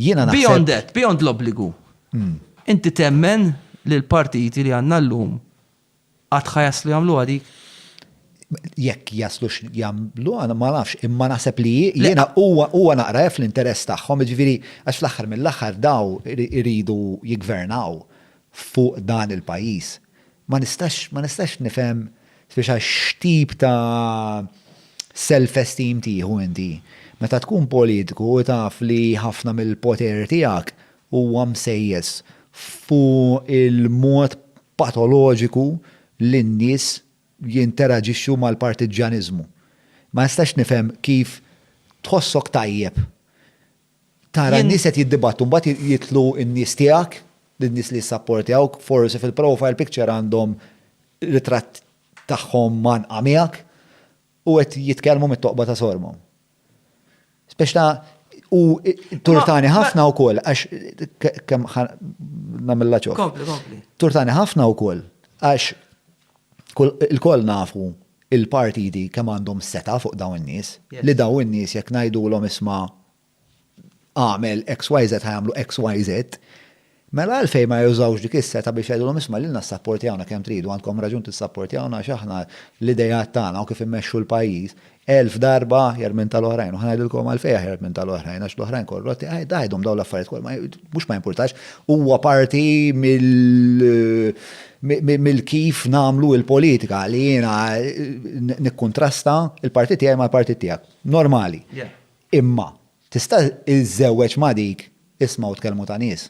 Jiena naħseb. Beyond that, beyond l-obbligu. Inti temmen li l-partiti li għandna llum qatt ħa jaslu jagħmluha dik? jekk jaslu jagħmlu għana ma nafx, imma naħseb li jiena huwa naqra f l-interess tagħhom, ġifieri għax fl-aħħar mill-aħħar daw iridu jigvernaw fuq dan il-pajjiż. Ma nistax, ma nistax nifhem speċa x'tip ta' self-esteem tieħu inti meta tkun politiku u taf li ħafna mill-poter tiegħek huwa msejjes fuq il-mod patoloġiku li n-nies jinteraġixxu mal-partiġġjaniżmu. Ma nistax nifhem kif tħossok tajjeb Tara n-nies qed jiddibattu mbagħad jidħlu n-nies tiegħek, lin-nies li jissapportjawk, forsi fil-profile picture għandhom ritratt tagħhom mgħannqa miegħek u qed jitkellmu mit-toqba ta' sorbhom. Spex ta' u turtani ħafna wkoll għax kemm nagħmilha ċokk. Turtani ħafna wkoll għax Ilkoll nafu il-partiti kemm għandhom setgħa fuq dawn in-nies, li dawn in-nies jekk ngħidulhom isma' agħmel XYZ ħa jagħmlu XYZ. Mela għalfejn ma jużawx dik is-setgħa biex jgħidulhom isma' lilna ssapportjawna kemm tridu, għandkom raġun tissapportjawna għax aħna l-ideat tagħna u kif immexxu l-pajjiż Elf darba aħjar minn tal-oħrajn, u ħa ngħidilkom għalfejn aħjar minn tal-oħrajn, għax l-oħrajn korrotti, għidhom dawn l-affarijiet kollha, mhux ma jimpurtax, huwa parti mill-kif nagħmlu l-politika li jiena nikkuntrasta l-partit tiegħi mal-partit tiegħek. Normali. Imma tista' iżżewweġ ma' dik ismgħu tkellmu ta' nies.